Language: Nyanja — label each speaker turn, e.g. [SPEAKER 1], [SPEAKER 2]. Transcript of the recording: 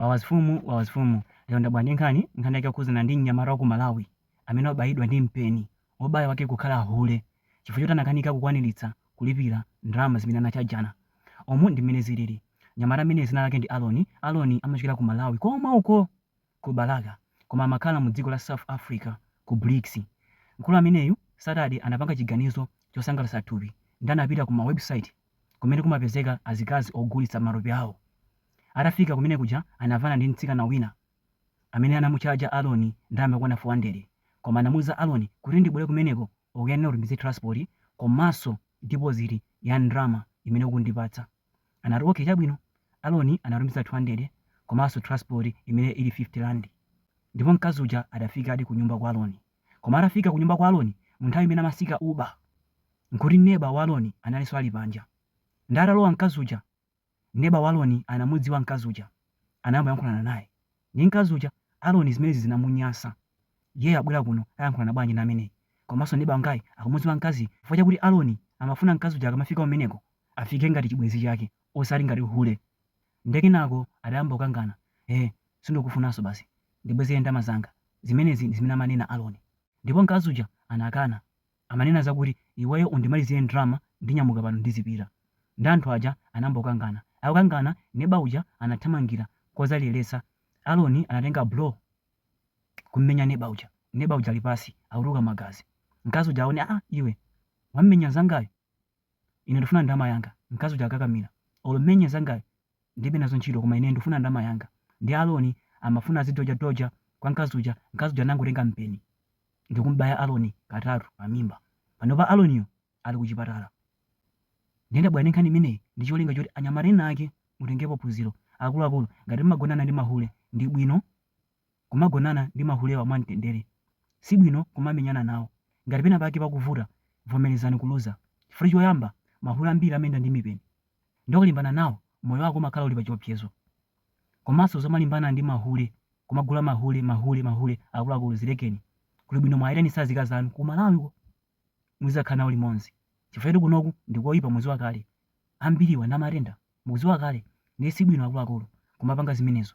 [SPEAKER 1] Wawa mfumu Wawa mfumu Lero ndabwera ndi nkhani, nkhani yake yokhudzana ndi mnyamata wa ku Malawi amene wabayidwa ndi mpeni, wobaya wake kukhala hule chifukwa choti anakanika kukwaniritsa kulipira ndalama zimene anatchajana. Umu ndi mmene zilili. Mnyamata ameneyu dzina lake ndi Aloni, Aloni amachokera ku Malawi komwe uko! ku Balaka koma amakhala mu dziko la South Africa ku Brixie. Mkulu ameneyu Saturday anapanga chiganizo chosangalatsa thupi nde anapita ku ma website, kumene kumapezeka azikazi ogulitsa matupi awo. Atafika kumene kuja anamvana ndi mtsikana wina amene anamutchaja Aloni ndalama yokwana 400 koma anamuuza Aloni kuti ndibwere kumeneko ukuyenera kuti unditumizire transport komanso deposit ya ndalama imene uzandipatsa. Anati okay chabwino. Aloni anatumiza 200 komanso transport imene ili 50 rand ndipo mkazi uja adafikadi kunyumba kwa Aloni. Koma atafika kunyumba kwa Aloni mu nthawi imene amatsika Uber, nkuti neba wa Aloni analinso ali panja. Nde atalowa mkazi uja, neba wa Aloni anamudziwa mkazi uja, anayamba kuyankhulana naye ndi mkazi uja. Aloni zimenezi zinamunyasa. Iyeyo abwera kuno ayankhulana bwanji ndi ameneyi? Komanso neba wangayi akumudziwa mkaziyi chifukwa chakuti Aloni amafuna mkazi uja akamafika kumeneko, afike ngati chibwenzi chake osati ngati hule. Nde kenako adayamba kukangana. Eeh, Sindikufunanso basi. Ndibwezere ndalama zanga. Zimenezi ndi zimene amanena Aloni. Ndipo mkazi uja anakana. Amanena zakuti, Iweyo undimalizire ndalama ndinyamuka pano ndizipita. Ndiye anthu aja anayamba kukangana. Akukangana, neba uja anathamangira kodzaleretsa. Aloni anatenga blow n'kum'menya neba uja. Neba uja ali pansi, akutuluka magazi. Mkazi uja akuti, Aa iwe! Wam'menya mnzangayu? Ine ndikufuna ndalama yanga. Mkazi uja akukakamira. Olo m'menye mnzangayu, Ndilibe nazo ntchito koma ine ndufuna ndalama yanga. Ndiye Aloni amafuna azidodja dodja kwa mkazi uja, mkazi uja nangotenga mpeni ndikumubaya Aloni katatu pa mimba. Panopa Aloniyo ali ku chipatala. Ndiye ndabwera ndi nkhani imeneyi ndi cholinga choti anyamata ena ake mutengepo phunziro. Akuluakulu, ngati mumagonana ndi mahule ndi bwino kumagonana ndi mahulewa mwa mtendere. Si bwino kumamenyana nawo. Ngati pena pake pakuvuta, vomerezani kuluza. Chifukwa choyamba, mahule ambiri amayenda ndi mipeni. nde ukalimbana nawo moyo wako umakhala uli pachiopsezo komanso zomalimbana ndi mahule kumagula mahule mahule mahule akuluakulu zilekeni kulibwino mwaitanise azikazi anu ku Malawiko muzizakhala nawo limonzi chifukwa choti kunoku ndikoipa muziwa kale ambiriwa ali ndi matenda mukuziwa kale ndiye sibwino akuluakulu kumapanga zimenezo.